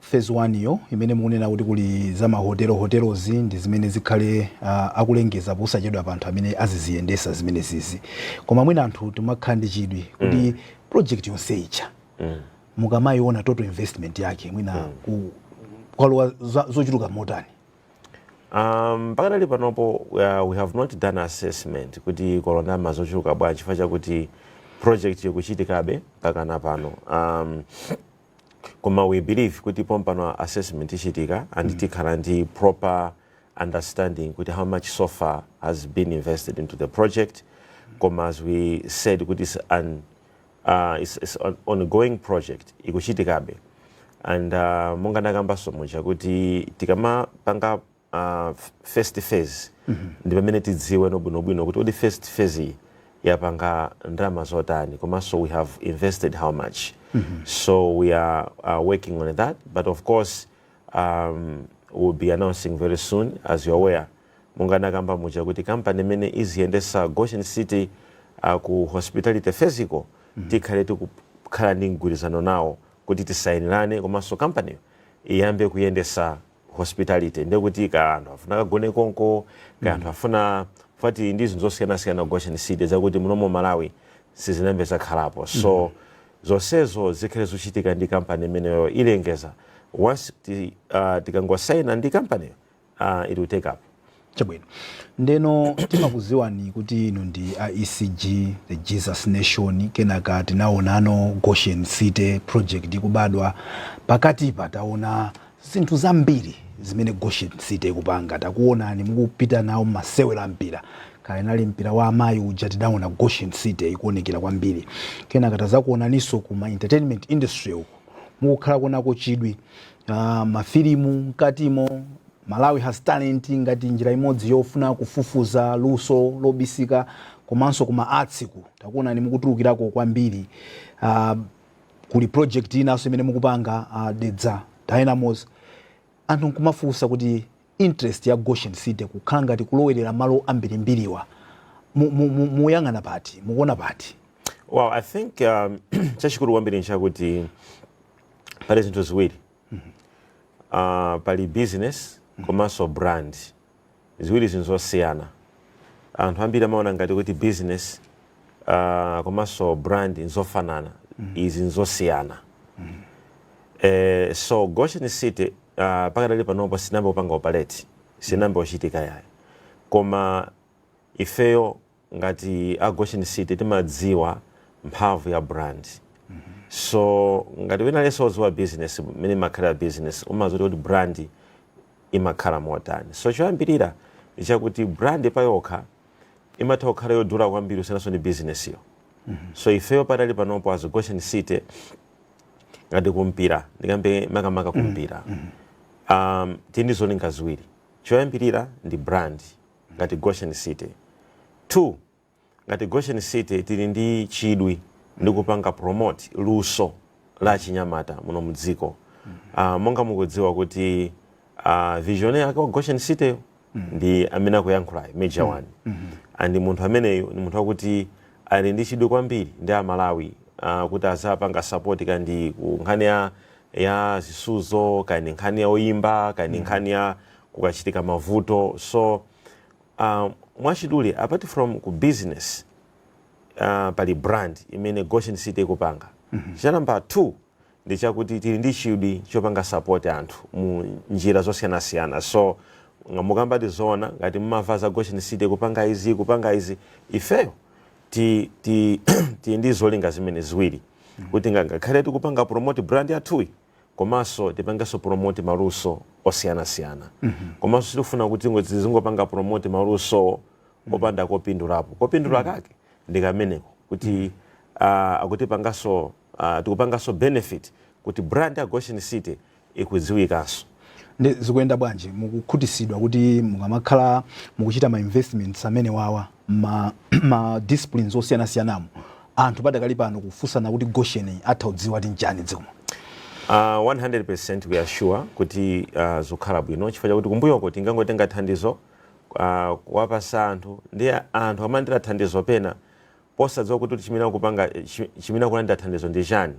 phase 1 yo imene mukunena kuti kuli za ma hotelo hotelozi ndi zimene zikhale akulengeza posachedwapa anthu amene aziziyendesa zimenezizi koma mwina anthu timakhala ndi chidwi kuti project yonse ija mukamayiona total investment yake mwina ku kwalowa zochuluka motani Um, pakadali panopo uh, we have not done assessment kuti kwalowa ndalama zochuluka bwanji chifukwa chakuti project ikuchitikabe mpakana pano um, koma we believe kuti pompano assessment ichitika and mm. tikhala ndi proper understanding kuti how much so far has been invested into the project koma as we said kuti is an uh, it's, it's an ongoing project ikuchitikabe and uh, monga ndakambanso muja kuti tikamapanga uh, first phase mm -hmm. ndi pamene tidziweno bwino bwino kuti kodi first phase iyi yapanga ndalama zotani komanso we have invested how much mm -hmm. so we are uh, working on that but of course um, we'll be announcing very soon as you're aware monga nakamba muja kuti kampani imene iziyendesa goshen city uh, ku hospitality physical mm -hmm. tikhale tikukhala ndi mgwirizano nawo kuti tisainirane komanso kampaniyo iyambe kuyendesa hospitality ndiye kuti ka anthu afuna akagone konko ka anthu afuna party ndi zinthu zosiyanasiyana ku goshen city zakuti muno mmalawi sizinayambe zakhalapo so zonsezo zikhale zochitika ndi kampani imeneyo ilengeza once ti, uh, tikangosaina ndi kampaniyo uh, it will take up Chabwino. Ndeno timakuziwani kuti inu ndi a ECG, the Jesus Nation, kenaka tinawonano Goshen City project ikubadwa. Pakatipa tawona zinthu zambiri zimene Goshen City ikupanga. Takuwonani mukupita nawo m'masewero a mpira. Kaya unali mpira wa amayi uja tinawona Goshen City ikuwonekera kwambiri. Kenaka tazakuwonaninso ku ma entertainment industry uku. Mukukhala konako chidwi. Uh, mafilimu mkatimo Malawi has talent ngati njira imodzi yofuna kufufuza luso lobisika komanso kuma arts ku takuonani mukutulukirako kwambiri uh, kuli project inanso imene mukupanga uh, Dedza Dynamos anthu nkumafunsa kuti interest ya Goshen City kukhala ngati kulowerera malo ambirimbiriwa muyang'ana pati mukuona pati well i think um, chachikulu kwambiri nchakuti pali zinthu ziwiri Uh, pali business komanso brand ziwiri izi nzosiyana anthu ambiri amaona ngati kuti business uh, komanso brand nzofanana izi nzosiyana eh, so goshen city uh, pakadali panopo sinayambe kupanga operate sinayambe kuchitika yayi koma ifeyo ngati a Goshen City timadziwa mphamvu ya brand so ngati wina aliyense wodziwa business mmene imakhalira business umadziwa kuti brand imakhala motani so choyambirira ndi chakuti brand payokha imatha kukhala yodula kwambiri kusiyananso ndi business yo so ifeyo padakali panopo as Goshen City ngati kumpira ndikambe makamaka kumpira um, tili ndi zolinga ziwiri choyambirira ndi brand ngati Goshen City. 2, Ngati Goshen City tili ndi chidwi ndi kupanga promote luso la achinyamata muno mu dziko. Ah, monga mukudziwa kuti ah, visionary wake wa Goshen City yo ndi amene akuyankhulayo Major One. And munthu ameneyu ndi munthu wakuti ali ndi chidwi kwambiri ndi Amalawi ah, kuti azapanga support kaya ndi ku nkhani ya ya zisuzo kaya ndi nkhani ya oyimba kaya ndi nkhani ya kukachitika mavuto so uh, mwachidule apart from ku business uh, pali brand imene goshen city ikupanga mm -hmm. cha namba 2 ndi chakuti tili ndi chidwi chopanga support anthu mu njira zosiyanasiyana so ngati mukukamba tizoona ngati mmamva za goshen city kupanga izi kupanga izi ifeyo ti, ti, tili ndi zolinga zimenezi ziwiri mm -hmm. kuti ngakhale tikupanga promote brand yathuyi komanso tipangenso promote maluso osiyanasiyana komanso sitikufuna kuti ngo- tizingopanga promote malusowo popanda kopindulapo kopindula kake ndi kameneko kuti ah, akutipanganso ah, tikupanganso benefit kuti brand ya goshen city ikudziwikanso ndi zikuyenda bwanji mukukhutisidwa kuti mukamakhala mukuchita ma investments amenewawa ma, ma disciplines osiyanasiyanamo Anthu padakali pano kufunsana kuti Goshen yi atha kudziwa kuti nchani dziko muno. Aaa 100% we are sure kuti aah zikukhala bwino chifukwa chakuti kumbuyoko tinkangotenga thandizo aah kuwapasa anthu ndiye anthu amalandira thandizo pena posadziwa kuti chimene akupanga chi chimene akulandira thandizo ndi chani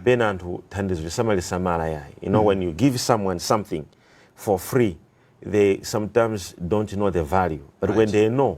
pena anthu thandizo salisamala yayi you know when you give someone something for free they sometimes don't know the value but when they know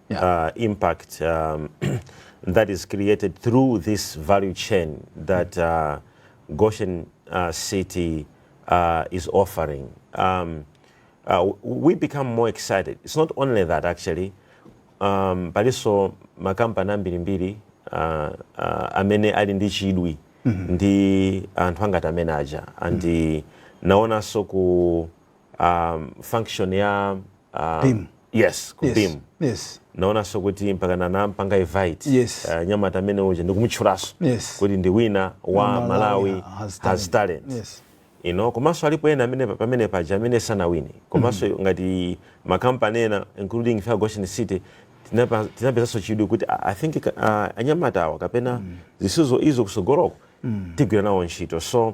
yeah. uh, impact um, that is created through this value chain that uh, Goshen uh, City uh, is offering. Um, uh, we become more excited. It's not only that actually, um, palinso makampani ambirimbiri uh, uh, amene ali ndi chidwi mm -hmm. ndi anthu a ngati amene aja and mm -hmm. nawonso ku um, function ya um, beam. yes ku yes. beam yes naonanso kuti mpaka nanampanga invite yes. uh, nyamata amene uja ndikumutchulaso yes. kuti ndi winner wa Malawi, Malawi has talent, has talent. Yes you know komanso alipo ena amene pamene paja amene sanawine komanso mm -hmm. ngati makampani ena including ife a Goshen City tinapezanso chidwi kuti i think uh, anyamata awa kapena mm. zisuzo izo kusogoloko mm. tigwira nawo ntchito so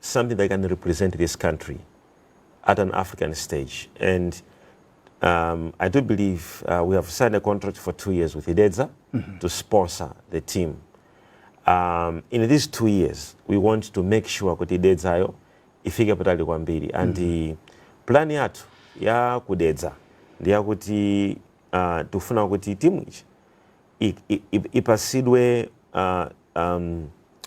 something that can represent this country at an African stage. And um, I do believe uh, we have signed a contract for two years with Idedza mm -hmm. to sponsor the team. Um, in these two years, we want to make sure kuti Idedzayo ifike patali kwambiri. And mm -hmm. plan yathu ya kudedza ndi yakuti uh, tikufuna kuti timu ichi ipasidwe uh, um,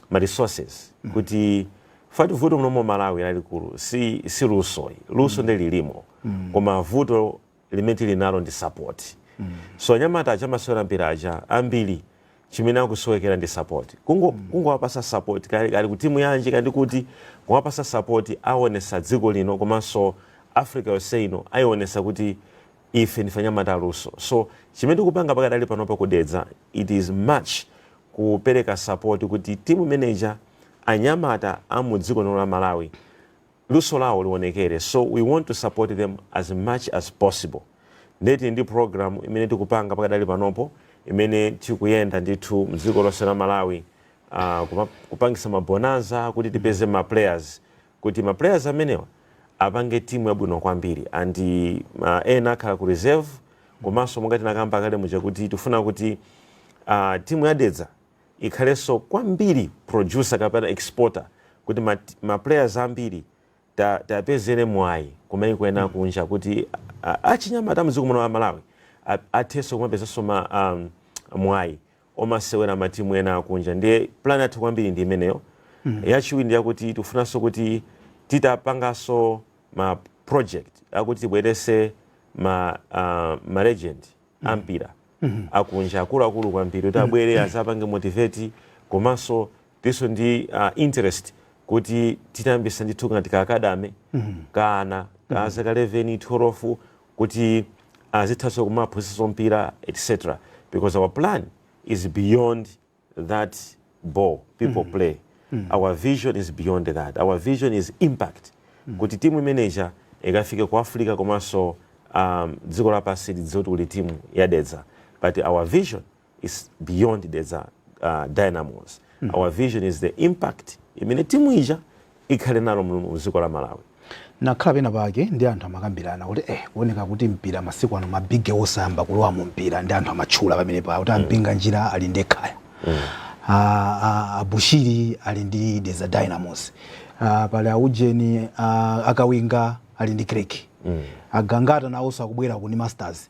ma resources mm. kuti fati vuto muno mu Malawi lalikulu si si luso luso mm. nde lilimo mm. koma vuto limene tili nalo ndi support mm. so anyamata aja amasewera mpira aja ambiri chimene akusowekera ndi support kungo mm. kungowapasa support kaya ali, kaya ali kutimu yanji kaya ndi kuti kungowapasa support aonesa dziko lino komanso africa yonse ino ayionesa kuti Ife ndife anyamata aluso so chimene tikupanga pakadali panopa ku Dedza it is much kupereka support kuti timu imene ija anyamata a mu dziko lino la Malawi luso lawo lionekere so we want to support them as much as possible ndiye tili ndi program imene tikupanga pakadali panopo imene tikuyenda ndithu mdziko lonse la Malawi ah, kuma- kupangisa ma bonanza kuti tipeze ma players kuti ma players amenewa apange timu yabwino kwambiri and uh, ena akhala ku reserve komanso monga tinakamba kale muja kuti tifuna kuti uh, timu ya dedza ikhalenso kwambiri producer kapena exporter kuti ma, ma players ambiri ta- tiwapezere mwayi kumayiko ena kunja kuti uh, achinyamata mdziko muno la malawi a- athenso kumapezanso ma um, mwayi omasewera matimu ena akunja ndiye plan yathu kwambiri ndi imeneyo mm. yachiwiri ndiyakuti tikufunanso kuti titapanganso ma project akuti tibwerese ma, uh, ma legend mm. ampira mm -hmm. akunja akuluakulu kwambiri kuti abwere mm -hmm. azapange motivate komanso tiso ndi uh, interest kuti titayambisa ndithu ngati ka academy mm -hmm. ka ana ka mm -hmm. zaka 11 12 kuti azithaso kumaphunzisaso mpira etc because our plan is beyond that ball people mm. play mm. our vision is beyond that our vision is impact mm. kuti timu imene ija ikafike ku africa komanso um, dziko lapansi lidziwe kuti kuli timu yadedza but our vision is beyond Dedza uh, Dynamos. Mm -hmm. Our vision is the impact imene timu ija ikhale nalo mu dziko la Malawi. nakhala pena pake ndi anthu amakambirana kuti eh kuoneka kuti mpira masiku ano ma big boss ayamba kulowa mu mpira ndi anthu amatchula pamenepa kuti a Mpinganjira mm. ali ndi Ekhaya mm. a, ah, a, ah, a Bushiri ali ndi Dedza Dynamos a, ah, pali aujeni a Kawinga ali ndi Creck mm. a Gangata nawonso akubwera uku ndi Masters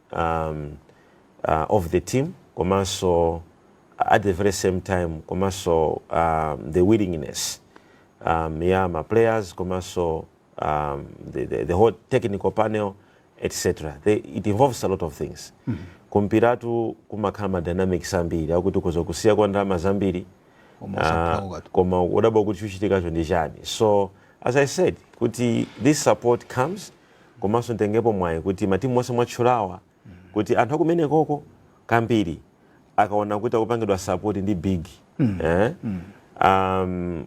um, uh, of the team komanso at the very same time komanso um, the willingness um, ya ma players komanso um, the, the, the whole technical panel etc they, it involves a lot of things mm -hmm. kumpiratu kumakhala ma dynamics ambiri akuti kuzokusiya kwa ndalama zambiri uh, koma udabwa kuti chikuchitikacho ndi chani so as i said kuti this support comes komanso nditengepo mwayi kuti matimu onse mwatchulawa kuti anthu akumenekoko kambiri akaona kuti akupangidwa support ndi big eh? um,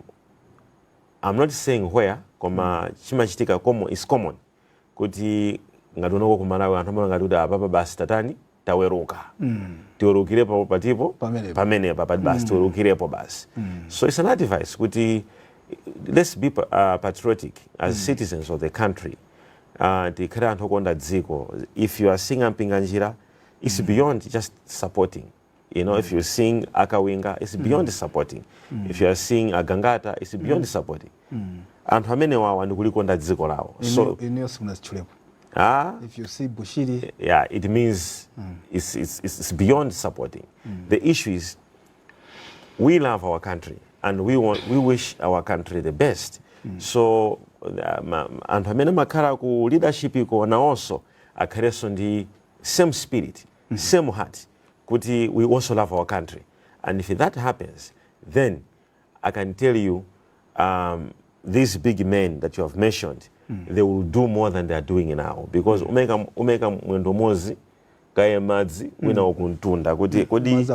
I'm not saying where koma chimachitika common, is common kuti ngati kunoko kumalawi anthu amangoti kuti apapa basi tatani taweruka mm. tiwerukirepo patipo pamenepa pati basi mm. tiwerukirepo basi mm. so it's an advice kuti let's be uh, patriotic as mm. citizens of the country uh, tikhale anthu okonda dziko if you are seeing ampinga njira it's mm. beyond just supporting you know mm. if you seeing akawinga it's beyond mm. supporting mm. if you are seeing agangata it's beyond mm. supporting mm. anthu amenewawa ndi kulikonda dziko lawo so inuyo simunazitchulepo Ah, if you see Bushiri yeah, it means mm. it's, it's, it's beyond supporting. Mm. The issue is we love our country and we, want, we wish our country the best. Mm. So um, um, anthu amene makhala ku leadership iko nawonso akhalenso ndi same spirit mm -hmm. same heart kuti we also love our country and if that happens then I can tell you um, these big men that you have mentioned mm. they will do more than they are doing now because mm. umeka, umeka mwendo mozi kaye madzi mm. wina wakuntunda kuti mm. kodi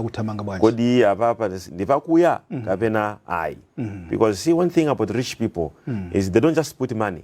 kodi apapa ndipakuya mm. kapena ayi mm. because see one thing about rich people mm. is they don't just put money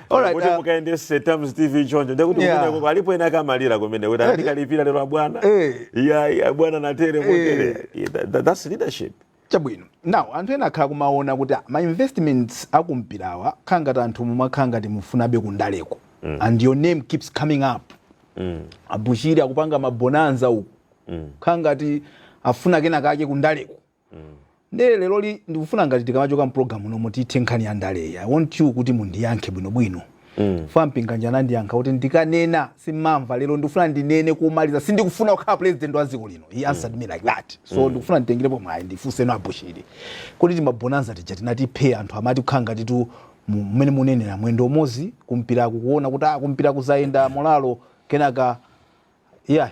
Alright, kuti uh, mukayendese Times TV choncho ndekuti Yeah. kumeneko alipo ena akamalira kumene kuti andikalipira lero abwana Eh. iya iya abwana natere motere Yeah, that- that- that's leadership chabwino now anthu ena akhala kumaona kuti ah, ma investments akumpirawa akhala ngati anthu mumakhala ngati mufunabe kundaleko and your name keeps coming up abushiri akupanga mabonanza uku khala ngati afuna kena kake kundaleko Ndiye leroli ndikufuna ngati tikamachoka m'program munomo tithe nkhani ya ndaleyi. I want you kuti mundiyankhe bwinobwino. Chifukwa Mpinganjira anandiyankha kuti ndikanena sim'mamva, lero ndikufuna ndinene komaliza, sindikufuna kukhala pulezidenti wa dziko lino. He answered me like that. So ndikufuna nditengerepo mwayi ndifunseno a Bushiri. Kuti timabonanza tija tinati phee anthu amati kukhala ngatitu mu- mmene munenera mwendo umodzi kumpiraku kuona kuti ah kumpira kuzayenda molalo kenaka yeah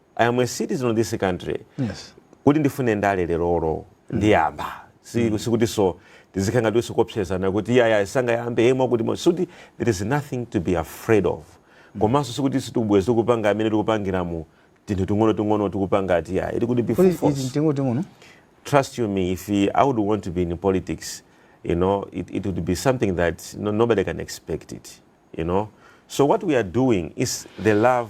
I am a citizen of this country Yes. kuti ndifune ndale lerolo ndiyamba Si- sikutinso tizikhala ngati uso kuopsezana kuti iyayi sangayambe yemwe kuti mo- sikuti there is nothing to be afraid of komanso sikuti sitikubweza tikupanga amene tikupangira mutinthu ting'ono ting'ono tikupanga ati yaya ili kuti be full Kodi force izi mtengo teng'ono? trust you me, if he, I would want to be in politics, you know, it, it would be something that no, nobody can expect it, you know. So what we are doing is the love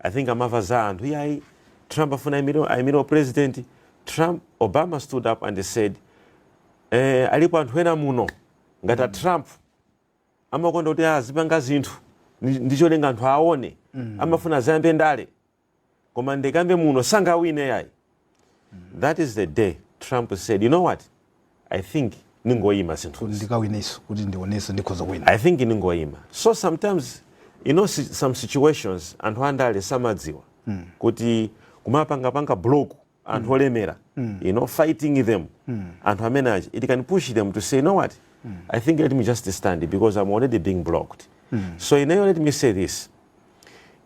I think amava za anthu iyayi Trump afuna aimire aimire u president Trump Obama stood up and said eh, alipo anthu ena muno ngati a Trump amakonda kuti azipanga zinthu ndi- ndi cholinga anthu aone amafuna azayambe ndale koma ndikambe muno sangawine yayi that is the day trump said you know what i think ningoyima zinthu ndikawineso kuti ndioneso ndikhoza kuwina i think ningoyima so sometimes you know si- some situations anthu andale samadziwa mm. kuti kumapangapanga block anthu mm. olemera mm. you know fighting them mm. anthu amene aja it can push them to say you know what mm. i think let me just stand because i'm already being blocked mm. so ineyo let me say this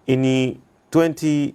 in 20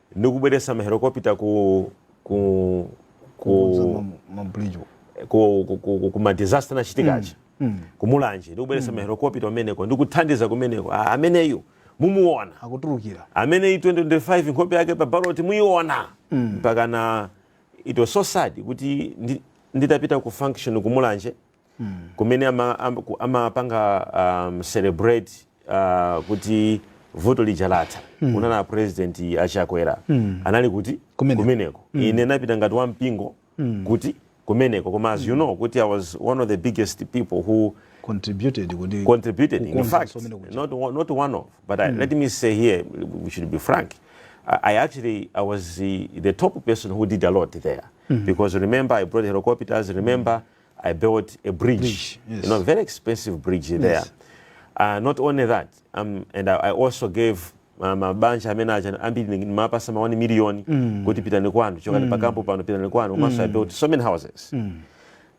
ndikubweretsa mahelikopita ku ku ku ku ma disaster anachitika aja mm, mm. kumulanje ndikubweretsa mm. mahelikopita kumeneko ndikuthandiza kumeneko ameneyu mumuona akutulukira ameneyu 2025 nkhope yake pa baloti muyiona mpakana it was so sad kuti nditapita ku function kumulanje kumene ama- am- ku- amapanga um, celebrate uh, kuti vuto lija latha kunali a president achakwera anali kuti Kumeneko. kumeneko ine ndinapita ngati wa mpingo kuti kumeneko koma as you know kuti i was one of the biggest people who contributed kuti contributed in Kukonza fact kusomera kuja. not, one- not one of but I, let me say here we should be frank I, I actually I was the, the top person who did a lot there because remember I brought helicopters remember I built a bridge, bridge yes. you know, very expensive bridge yes. there. Uh, not only that, um, and I, I also gave um, a bunch of manager ambili ni mapa sama wani milioni mm. kuti pitani kwanu choka mm. pakampo pano pitani kwanu mm. I built so many houses mm.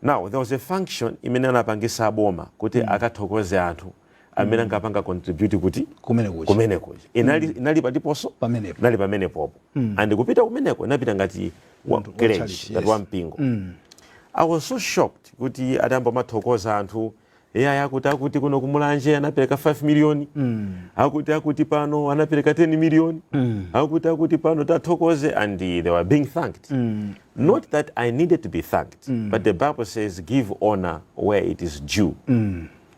now there was a function imene anapangisa boma kuti mm. akathokoze anthu amene ankapanga contribute kuti kumene kuchi kumene kuja inali inali phatiphonso pamenepo nali pamenepopo and kupita kumeneko ine napita ngati wa Munthu wa church, church, ngati yes. wa mpingo i was so shocked kuti atayamba kumathokoza anthu eyaya akuti akuti kuno kumulanje anapereka 5 miliyoni akuti akuti pano anapereka 10 miliyoni akuti akuti pano tathokoze and they were being thanked not that i needed to be thanked but the bible says give honor where it is due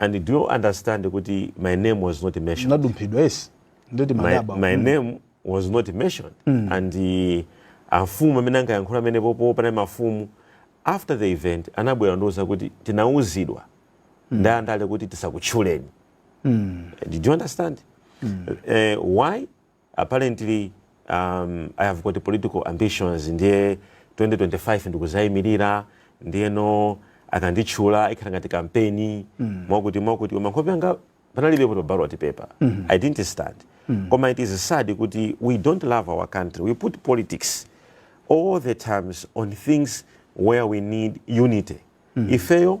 And do you understand kuti my name was not mentioned? Munadumphidwa yes. Ndeti my, madaba. My mm. name was not mentioned. Mm. And the amfumu amene ankayankhula pamenepopo panali mafumu after the event anabwera kundiuza kuti tinauzidwa mm. ndi andale kuti tisakutchuleni. Mm. Do you understand? Mm. Uh, why? apparently um, i have got political ambitions ndiye 2025 ndikuzayimirira ndiyeno akanditchula ikhala ngati kampeni mm. mwakuti mwakuti koma nkhope yanga panalibepo pa ballot paper mm -hmm. i didn't stand mm -hmm. koma it is sad kuti we don't love our country we put politics all the times on things where we need unity mm -hmm. ifeyo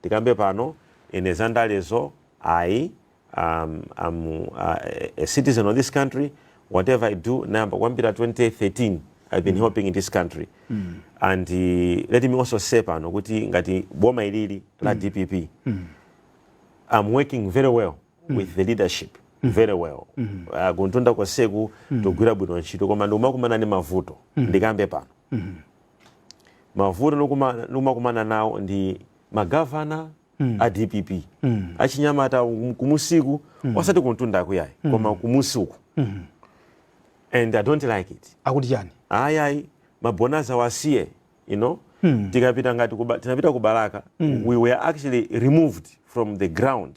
ndikambe pano ine za ndalezo ayi um, am uh, a citizen of this country whatever i do nayamba kuyambira 2013 i've been helping in this country and uh, let me also say pano kuti ngati boma ilili la dpp I'm working very well with the leadership very well uh, kumtunda konseku tikugwira bwino ntchito koma ndikumakumana ndi mavuto ndikambe pano mavuto ndikuma- ndikumakumana nawo ndi magavana a dpp achinyamata kum- kumusiku osati kumtundaku ayi koma kumusiku and i don't like it akuti chani ayayi mabonanza awasiye you know tikapita ngati kuba, tinapita ku balaka we were actually removed from the ground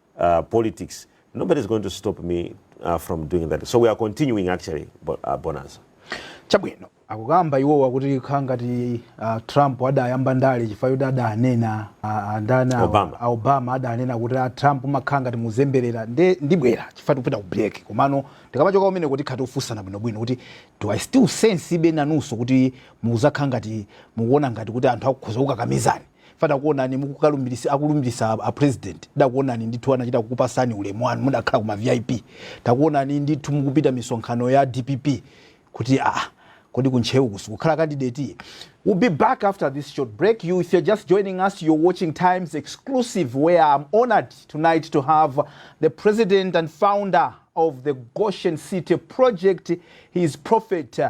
uh, politics nobody's going to stop me uh, from doing that so we are continuing actually bo uh, bonanza chabwino akukamba iwowa kuti nkhani ngati uh, trump adayamba ndale chifukwa yoti adanena uh, ndani awa- Obama. a obama adanena kuti a trump mumakhala ngati mukuzemberera ndibwera chifukwa tikupita ku break komano tikamachoka kumeneko tikhala tikufunsana bwinobwino kuti do i still sense ibe nanunso kuti muzakhala ngati mukuona ngati kuti anthu akukhoza kukukakamizani fa takuonani mukukalumbilisa akulumbilisa a president ndakuonani ndithu anachita kukupasani ulemu wanu mudakhala kuma vip takuonani ndithu mukupita misonkhano ya dpp kuti ah kodi kuntcheu sikukhala candidate we'll be back after this short break if you're just joining us you're watching times exclusive where i'm honored tonight to have the president and founder of the goshen city project he is prophet uh,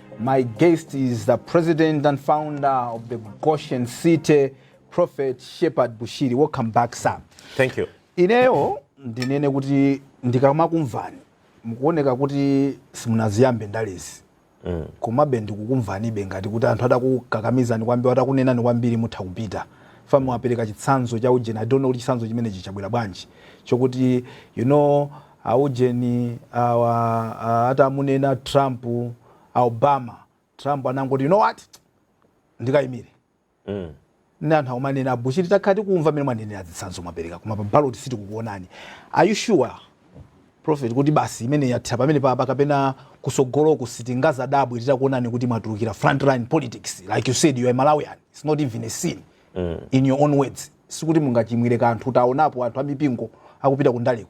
My guest is the president and founder of the Goshen City, Prophet Shepherd Bushiri. Welcome back, sir. Thank you. Ineyo ndinene kuti ndikamakumvani mukuoneka kuti simunaziyambe ndalezi mm. komabe ndikukumvanibe ngati kuti anthu atakukakamizani kwambiri atakunenani kwambiri mutha kupita fa mwapereka chitsanzo cha ujeni i don't know kuti chitsanzo chimenechi chabwera bwanji chokuti you know Aujeni awa a, atamunena Trump a Obama, Trump anangoti you know what ndikayimire mm. nde anthu akumanena a bushiri takhala tikumva mmene mwanenera zitsanzo mwapereka koma pa ballot sitikukuonani are you sure prophet kuti basi imeneyi yathera pamene papa kapena kutsogoloku sitingazadabwe titakuonani kuti mwatulukira frontline politics like you said you are malawian it's not even a sin mm. in your own words sikuti mungachimwire kanthu taonapo anthu amipingo akupita kundaleko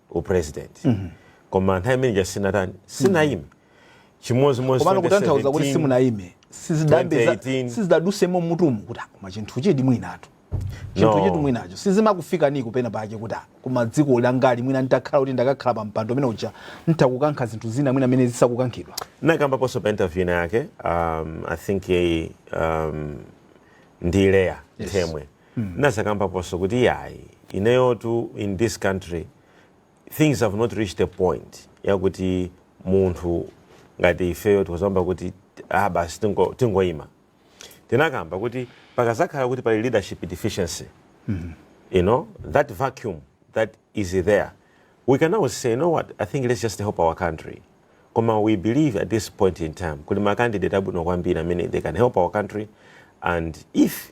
u president koma nthawi imene ija sinatani sinayime chimodzi modzi komano kutanthauza kuti simunayime sizidambe za- 2018. sizidadusemo mutumu kuti ah, koma chinthuchi di mwinatu chinthu No. chi di mwinacho sizimakufikani ko pena pake kuti ah, koma dziko langali mwina nditakhala kuti ndakakhala pa mpando umene uja nditha kukankha zinthu zina mwina mmene zisakukankhidwa nakambaponso pa interview ina yake um, i think eh, um, ndi leya nthemwe nazakambaponso kuti iyayi ineyotu in this country things have not reached a point yakuti munthu ngati ifeyo tikudzayamba kuti ah basi tingo- tingoyima tinakamba kuti pakazakhala kuti pali leadership deficiency you know that vacuum that is there we can now say you know what i think let's just help our country koma we believe at this point in time kuli ma candidate abwino kwambiri amene they can help our country and if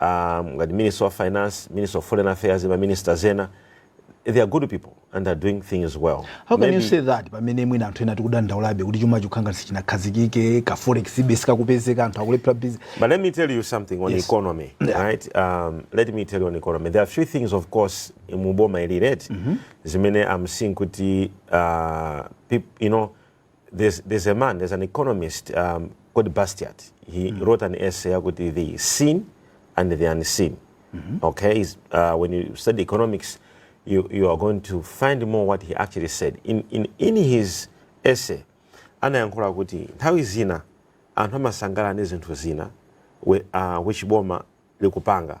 um, ngati minister of finance minister of foreign affairs ma ministers ena they are good people and are doing things well how can Maybe... you say that pamene mwina anthu ena tikudandaulabe kuti chuma chikukhanga sichinakhazikike ka forex ibe sikakupezeka anthu akulephera busy but let me tell you something on yes. economy yeah. right um, let me tell you on economy there are few things of course muboma ili right mm -hmm. zimene i'm seeing kuti uh, you know there's, there's a man, there's an economist um, called Bastiat. He mm. wrote an essay about the seen and the unseen. Mm -hmm. Okay, uh, when you study economics, you, you are going to find more what he actually said. In, in, in his essay, anayankhula kuti nthawi zina anthu amasangalala ndi zinthu zina uh, which boma likupanga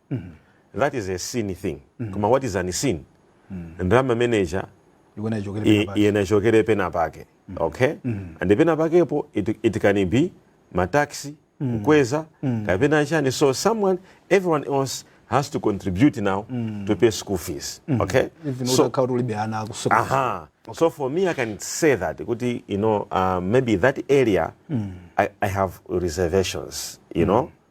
that is a seen thing koma what is unseen ndalama imeneja Yikuona ichokere i- pena pake. iyena ichokere pena pake okay and pena pakepo it, it can be mataxi kukweza kapena chani so someone everyone else has to contribute now to pay school fees okay Even so utakhala kuti ulibe ana akusoka. aha so for me i can say that kuti you know uh, maybe that area I, i have reservations you know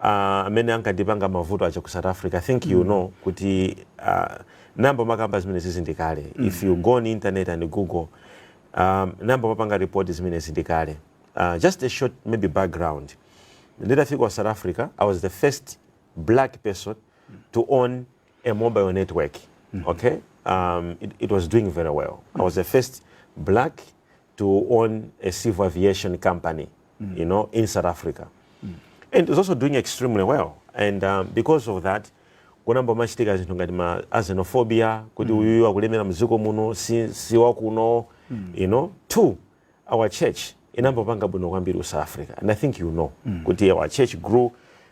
uh, amene anandipanga mavuto aja ku south africa i think you mm. know kuti uh, nnayamba makamba zimenezi ndi kale mm. if you go on internet and google um, nnayamba mapanga report zimenezi ndi kale uh, just a short maybe background nditafika ku south africa i was the first black person to own a mobile network mm -hmm. okay um, it, it was doing very well mm -hmm. i was the first black to own a civil aviation company mm. you know, in South Africa. Mm. And it's also doing extremely well. And um, because of that, kunayamba machitika zinthu ngati ma xenophobia kuti mm. uyuyu akulemera mdziko muno si, si wakuno mm. you know two our church inayamba kupanga bwino kwambiri ku south africa and i think you know mm. kuti our church grew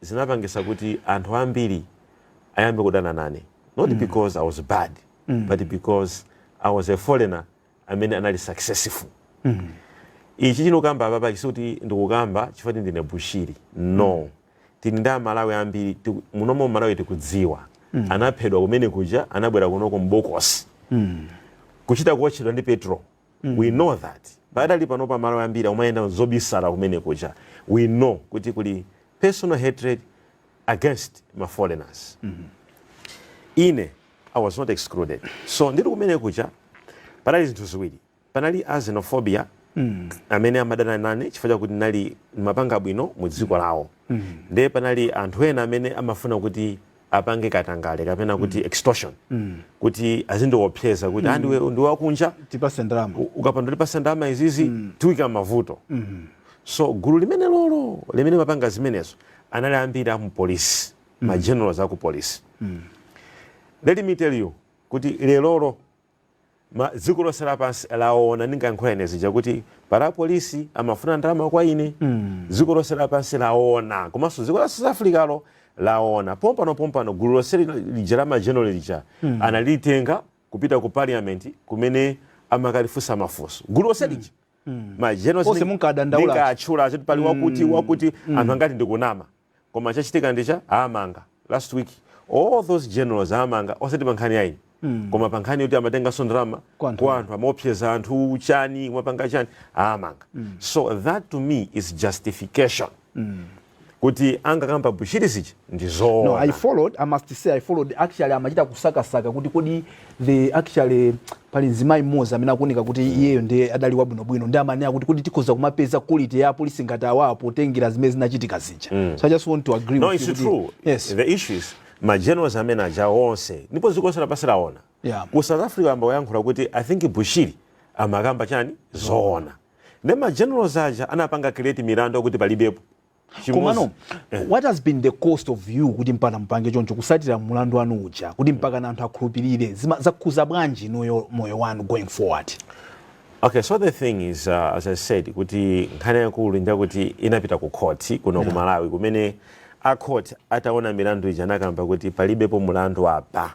zinapangisa kuti anthu ambiri ayambe kudana nane not because i was bad but because i was a foreigner amene anali successful ichi sindikukamba apa basi kuti ndikukamba chifukwa kuti ndine bushiri no tili ndi amalawi ambiri tiku- munomo malawi tikudziwa anaphedwa kumene kuja anabwera kunoko mbokosi kuchita kuotchedwa ndi petrol mm. we know that padakali panopa amalawi ambiri amayenda mobisala kumene kuja we know kuti kuli personal hatred against ma foreigners mm -hmm. ine i was not excluded so ndiri kumene kuja panali zinthu ziwiri panali a xenophobia mm. amene amadana nane chifukwa chakuti ndinali kumapanga bwino mu dziko lawo mm. ndiye panali anthu ena amene amafuna kuti apange katangale kapena kuti mm. extortion mm. kuti azindiopseza kuti mm. a iwe ndi wakunja tipatse ndalama ukapanda tipatsa ndalama izizi mm. tikuika mmavuto mm -hmm. so gulu limenelolo limene limapanga zimenezo anali ambiri a mupolisi mm. ma generals a kupolisi mm. let me tell you kuti lelolo dziko lonse lapansi laona ndinkayankhula zija kuti pali apolisi amafuna ndalama kwa ine dziko lonse lapansi laona komanso dziko la south africalo laona pompano pompano gulu lonse lina lija la ma general lija analitenga kupita ku parliament kumene amakalifunsa mafunso gulu lonse lija ma generals Onse ndinkawatchula pali wakuti wakuti anthu ankati ndikunama koma chachitika ndi chani awamanga last week all those generals awamanga osati pa nkhani ya ine mm. koma pa nkhani yoti amatenganso ndalama kwa anthu amaopseza anthu chani kumapanga chani awamanga mm. so that to me is justification mm kuti ankakamba bushiri zija ndi zoona no, i followed i must say i followed actually amachita kusakasaka kuti kodi the actually pali mzimayi mmodzi amene akuoneka kuti mm. iyeyo ndiye adali wabwinobwino ndiye amanena kuti kuti tikhoza kumapeza quality ya apolisi ngati awawa potengera zimene zinachitika zija mm. so i just want to agree no, with it's you true. yes the issue is ma generals amene aja onse ndipo dziko lonse lapansi laona yeah. ku south africa ayamba kuyankhula kuti i think bushiri amakamba chani zoona ndiye ma generals aja anapanga create milandu yakuti palibepo komano eh. what has been the cost of you kuti mpaka mupange choncho kusatira mulandu wanu uja kuti mpaka na anthu akhulupirire zakhuza bwanji moyo wanu going forward Okay, so the thing is uh, as I said kuti nkhani yaikulu nja kuti inapita ku court kuno yeah. ku Malawi kumene a court ataona milandu ija anakamba kuti palibepo mulandu apa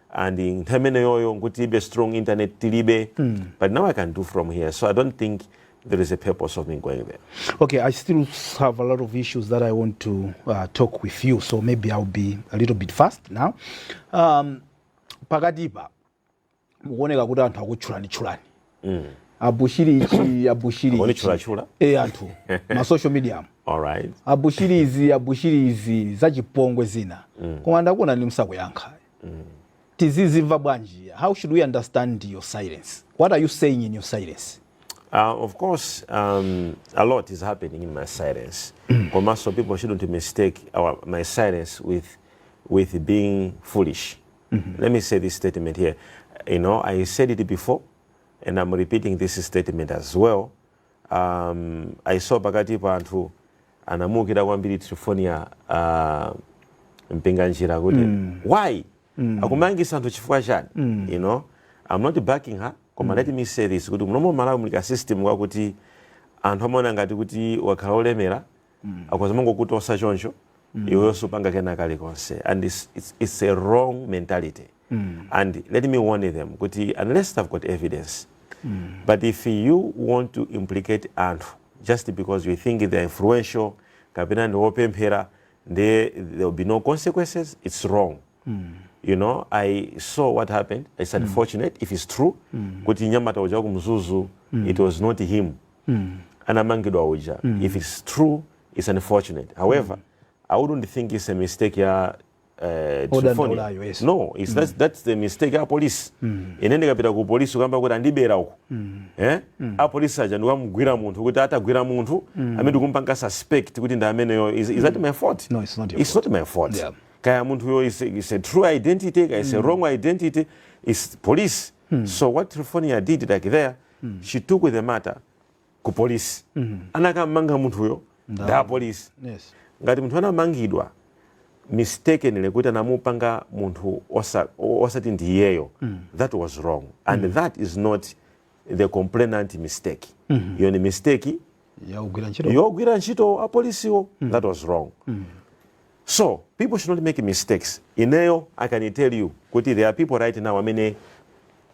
and nthawi imeneyoyo nkuti tilibe strong internet tilibe but now i can do from here so i don't think there is a purpose of me going there Okay, I still have a lot of issues that I want to uh, talk with you, so maybe I'll be a little bit fast now. Um, pakatipa mukuoneka kuti anthu akutchulani tchulani mm. abushiri ichi abushiri chulachula e eh, anthu ma social media alright abushiri izi abushiri izi zachipongwe zina mm. koma ndakuona ni msakuyankha mm. tizizimva bwanji how should we understand your silence what are you saying in your silence Uh, of course, um, a lot is happening in my silence. Mm. Komaso, people shouldn't mistake our, my silence with, with being foolish. mm -hmm. let me say this statement here you know i said it before and i'm repeating this statement as well um, i saw pakatipa anthu anamuukira kwambiri Triphornia uh, Mpinganjira kuti mm. why mm. akumangisa anthu chifukwa chani mm. you know i'm not backing her koma mm. let me say this kuti muno mu Malawi muli ka system kakuti anthu amaona ngati kuti ukakhala olemera mm. akhoza mangokutosa choncho mm. iweyo supanga kena kalikonse and it's, it's, it's a wrong mentality mm. and let me warn them kuti unless they've got evidence mm. but if you want to implicate anthu just because you think they're influential kapena ndi wopemphera there will be no consequences it's wrong mm. you know i saw what happened it's mm. unfortunate mm. if it's true mm. kuti nyamata uja kumzuzu mm. it was not him anamangidwa uja if its true its unfortunate however i wouldn't think its a mistake ya eh, Triphornia. Odandaulayo, yes. no it's, that's, that's the mistake ya polisi ine ndikapita ku polisi kukamba kuti andibera uko eh? apolisi aja ndikumgwira munthu kutanthauza atagwira munthu amene ndikumpanga suspect kuti ndi ameneyo is, is that my fault No, it's not your it's not my fault Yeah. kaya munthuyo is, is a true identity kaya is a wrong identity is police Hmm. So what Triphornia did like there, hmm. she took the matter ku police. Hmm. Anakammanga munthuyo nda police. Yes. Ngati munthu anamangidwa mistakenly kuti anamupanga munthu osati ndi iyeyo. Hmm. That was wrong and hmm. that is not the complainant mistake. Hmm. Iyo ni mistake ya ogwira ntchito apolisiwo mm. that was wrong mm. so people should not make mistakes ineyo i can tell you kuti there are people right now amene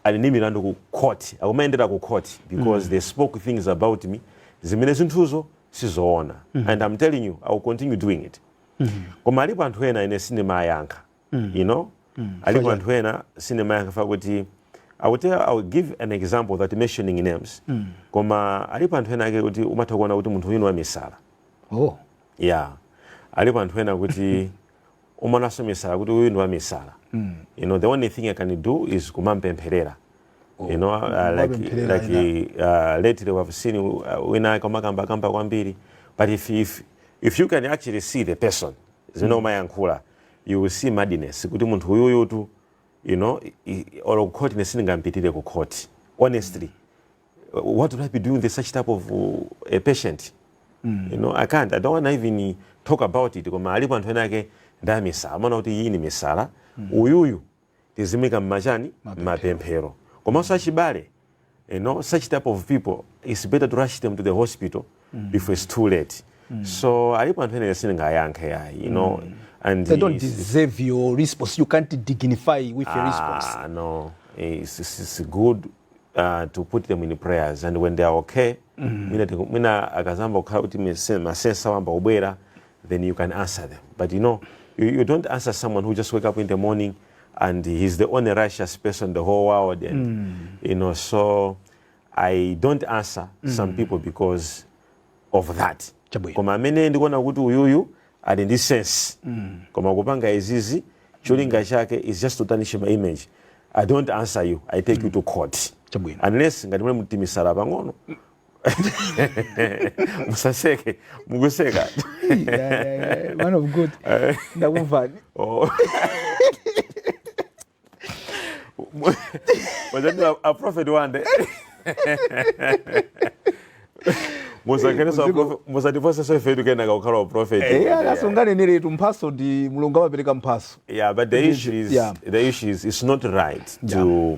ali ndi milandu ku court akumayendera ku court because mm. they spoke things about me zimene zinthuzo sizoona mm. and i'm telling you i will continue doing it mm. koma alipo anthu ena ine sindimawayankha mm. you know mm. alipo anthu ena sindimayankha chifukwa choti I will tell, I will give an example without mentioning names mm. koma alipo anthu ena ake kuti umatha kuona kuti munthu uyu ndi wamisala oh. yeah alipo anthu ena kuti umaonanso misala kuti uyu ndi wamisala mm. you know the only thing I can do is kumampempherera oh. you know uh, like, like uh, lately we have seen uh, wina akamakamba kamba kwambiri but if, if, if you can actually see the person zimene mm. amayankhula mm. you will see madness kuti munthu uyuyutu you know i- i- olo kukhoti ne sindingampitire ku khoti honestly uh, what would i be doing with such type of uh, a patient you know i can't i don't want to even talk about it koma alipo anthu ena ake nda misala umaona kuti iyi ni misala uyuyu tizimika mmachani mmapemphero komanso achibale you know such type of people it's better to rush them to the hospital mm. before it's too late mm. so alipo anthu enene sindingayankhe yayi you know mm. and they don't deserve your response you can't dignify with ah, your response ah no it's, it's, it's good uh, to put them in prayers and when they are okay mm. mina, mina akazamba kukhala kuti masensa wamba ubwera then you can answer them but you know you, you don't answer someone who just wake up in the morning and he's the only righteous person in the whole world and mm. you know so i don't answer mm. some people because of that koma amene ndikuona kuti uyuyu ali ndi sense mm. koma kupanga izizi cholinga mm. chake is just to tarnish my image i don't answer you i take mm. you to court Chabwino. unless ngati muli mtimisala pang'ono musaseke mukuseka man of god eh. ndakumvani oh. wazati wande musatifoseso ifetu kenaka kukhala waprofetiasunganenere eh, tu mphaso ndi mulungu amapereka mphaso yeah but the issue is yeah. the issue is it's not right yeah. to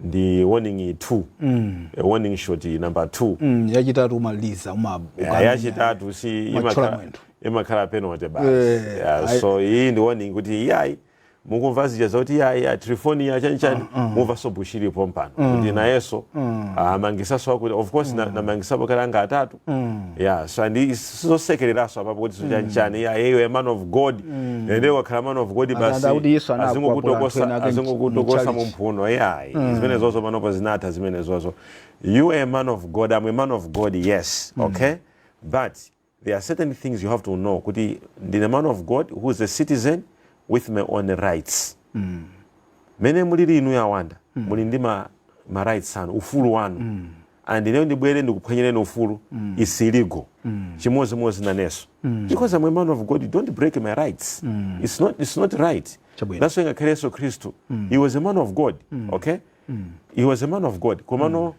ndi warning 2 mm. e, warning shot number 2 mm, yachitatu umaliza ima eh, yachitatu siimakhala imakhala penalty basi eh, yeah, so iyi ndi warning kuti iyayi mukumva zija zoti iyayi a Triphornia chanchani uh, uh. mumvaso Bushiri pompano mm. kuti nayeso mm. amangisaso ah, akuti of course mm. namangisapo na kale anga atatu Mm. Yeah, so and sizosekereraso apapo kuti mm. chanchani yeah, hey, a man of god mm. and they wakhala man of god basi azingokutokosa azingokutokosa mumphuno yeah mm. zimene zozo panopo zinatha zimene zozo you are a man of god i'm a man of god yes mm. okay but there are certain things you have to know kuti ndine man of god who is a citizen with my own rights mm. mene mulili inu a Wanda mm. muli ndi ma, ma rights anu ufulu wanu mm. and ineyo ndibwere ndikuphwanyireni ufulu mm. is illegal mm. chimodzimodzi naneso mm. because I'm a man of God you don't break my rights mm. it's, not, it's not right Chabwino. that's why ngakhale yesu khristu mm. he was a man of God mm. okay mm. he was a man of God komano mm.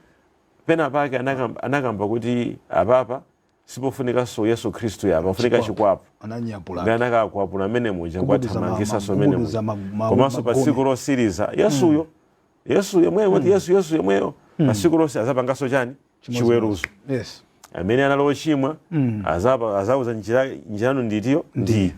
pena pake anakamba, anakamba kuti apapa Sipofunikanso Yesu Khristu yayi, pafunika Chikwapu. chikwapu. Ananyapula Ndi anthu. anakakwapula mmene muja, Ngubu za ma- nkuwathamangisanso ma- mmene ngubu muja. za ma- ma- Komanso pa magome. tsiku losiriza, Yesuyo, Yesu yemweyo, kuti Yesu, Yesu yemweyo, pa tsiku lonse azapangaso chani? Chiweruzo. Yes. amene anali ochimwa azapa- azauza njira yanu nditiyo ndi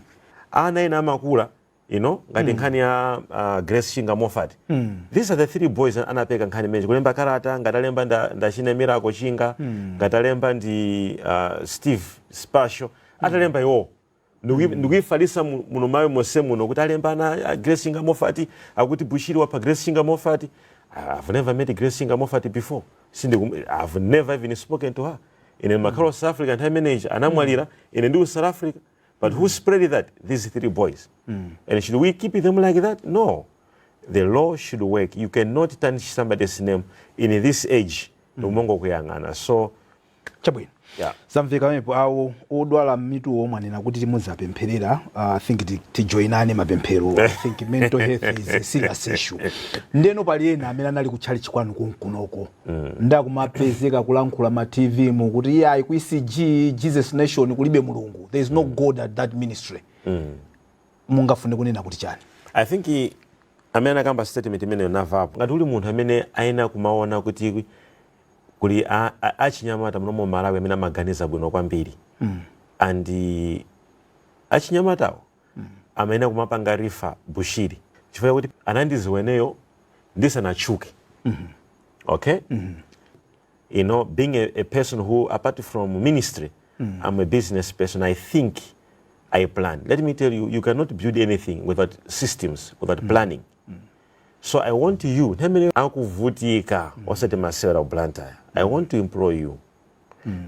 ana ena amakula you know ngati mm. nkhani ya uh, grace chinga moffat mm. these are the three boys anapeka nkhani imeneyi kulemba kalata ngati alemba ndachine nda miracle chinga mm. ngati alemba ndi uh, steve spesho mm. atalemba iwowo ndikuifalisa mm. muno malo mose muno kuti alemba ana a uh, grace chinga moffat akuti bushiri wapha grace chinga moffat i've never met grace chinga moffat before sindiku i've never even spoken to her ine nimakhala mm. south africa nthawi imene anamwalira mm. ine ndiku south africa But who spread that? These three boys. And should we keep them like that? No. The law should work. You cannot tarnish somebody's name in this age. Nkumangokuyang'ana. So, chabwino yeah. zamveka pamenepo awo odwala mitu omwe anena kuti timuzapempherera uh, i think ti- tijoinane mapemphero i think mental health is a serious issue ndeno pali ena amene anali kutchalitchi kwanu konkunoko mm. nde akumapezeka kulankhula ma tv mu kuti iye ayi ku ecg jesus nation kulibe mulungu there is no mm. god at that ministry mm. mungafune kunena kuti chani i think amene anakamba statement imeneyo namvapo ngati uli munthu amene ayenera kumaona kuti kuli achinyamata muno m' malawi amene amaganiza bwino kwambiri mm. and achinyamatawo amayenera kumapanga refer bushiri chifukwa kuti anandiziwa ineyo ndisanatchuke okay you know being a, a person who apart from ministry i'm a business person i think i plan let me tell you you cannot build anything without systems without planning so i want you namene akuvutika osati masewera blantyre i want to employ you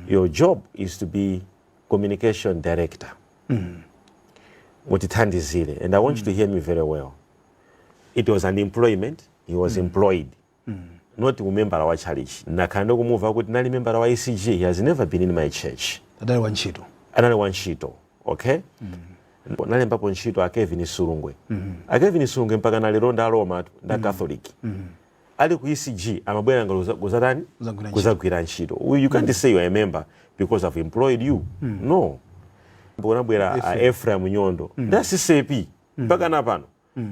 your job is to be communication director mm. mutithandizire and i want mm. you to hear me very well it was an employment he was mm. employed mm. not umembala wa church nakhala ndikumva kuti anali membala wa ecg he has never been in my church adali wa ntchito anali wa ntchito okay mm nalembapo ntchito a kelvin sulugwe mm -hmm. a kelvin sulugwe mpaka nalero nda romatu nda mm -hmm. catholic mm -hmm. Ali ku ECG amabwera ngati kuza- kuzatani Kuzagwira ntchito. kuzagwira ntchito Uyu, you can't say you are a member because I've employed you no kunabwera a Ephraim Nyondo nda CCAP mpaka na pano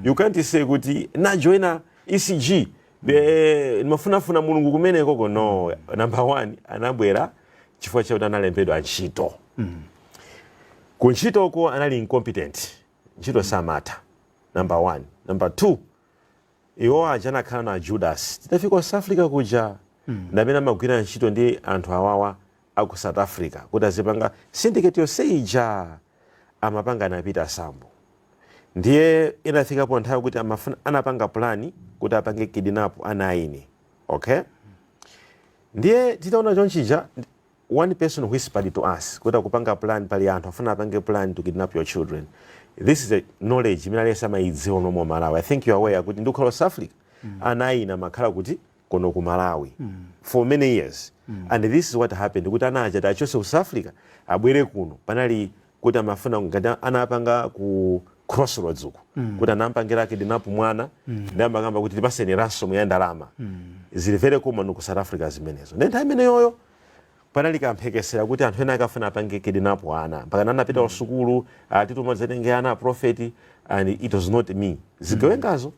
you can't say kuti najoina ECG eh, ndimafunafuna mulungu kumene koko no number one anabwera chifukwa chakuti analembedwa ntchito ku ntchitoko anali incompetent ntchito samatha number one number two Iwo aja anakhala ana a Judasi. Titafika ku South Africa kuja, ni amene amagwira ntchito ndi anthu awawa a ku South Africa kuti azipanga syndicate yonse ija amapanga na Peter Sambo. Ndiye inafikapo nthawi kuti amafuna, anapanga pulani kuti apange kidinapu ana aine. Okay? Ndiye titaona chonchija, ndi- One person whispered to us kuti akupanga plan pali anthu akufuna apange plan to kidnap your children. This is a knowledge imene aliyense amayidziwa muno mu Malawi. I think you are aware kuti ndikukhala ku South Africa ana aine amakhala kuti konkuno ku Malawi for many years and this is what happened kuti ana aja tiachose ku South Africa abwere kuno panali kuti amafuna ngati anapanga ku crossroads uku mm. kuti anampangira kidnap mwana mm. ndi amakamba kuti tipaseni ransom ya ndalama mm. zili very common ku South Africa zimenezo ndi nthawi imeneyoyo panali kamphekesera kuti anthu ena akafuna apange kidnap ana mpaka anapita mm. kusukulu atituma zetenge ana a prophet and it was not me zigawengazo mm.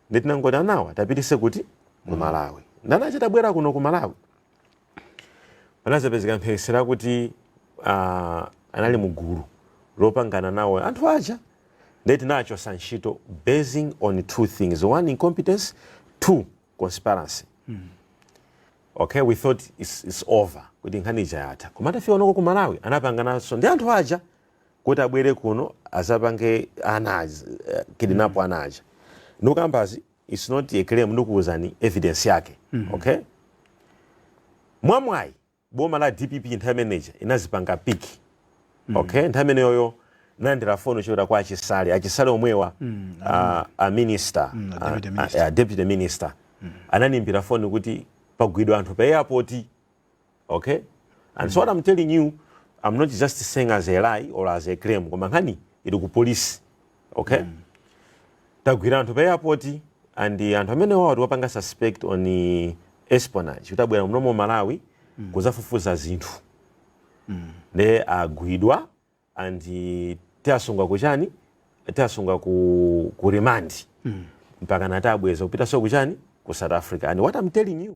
nde tinangoti anawa tiapititse kuti ku mm. Malawi nde anachita kubwera kuno ku Malawi panazapezeka mphekesera kuti uh, anali mugulu lopangana nawo anthu aja ndiye tinawachosa ntchito basing on two things one incompetence two conspiracy mm. okay we thought it's, it's over kuti nkhani ija yatha koma atafika kunoko ku malawi anapangananso ndi anthu aja kuti abwere kuno azapange ana aja eh, kidinapo ana aja ndikukambazi its not a claim ndikuuzani evidence yake okay mwamwayi boma la dpp nthawi imeneja inazipanga piki okay nthawi imeneyoyo ndinalandira foni yochokera kwa achisale achisale omwewa ah, a minister a deputy ah, ah, ah, deputy minister anandiimbira foni kuti pagwidwa anthu pa airport okay and so what i'm telling you i'm not just saying as a lie or as a claim koma nkhani ili ku polisi okay tagwira anthu pa airport and anthu amene wawa tiwapanga suspect on eh, espionage kuti abwera muno mu malawi kuzafufuza zinthu nde agwidwa and tiasunga kuchani tiasunga ku, ku remand mm. mpaka nati abweza kupita so kuchani ku south africa and what i'm telling you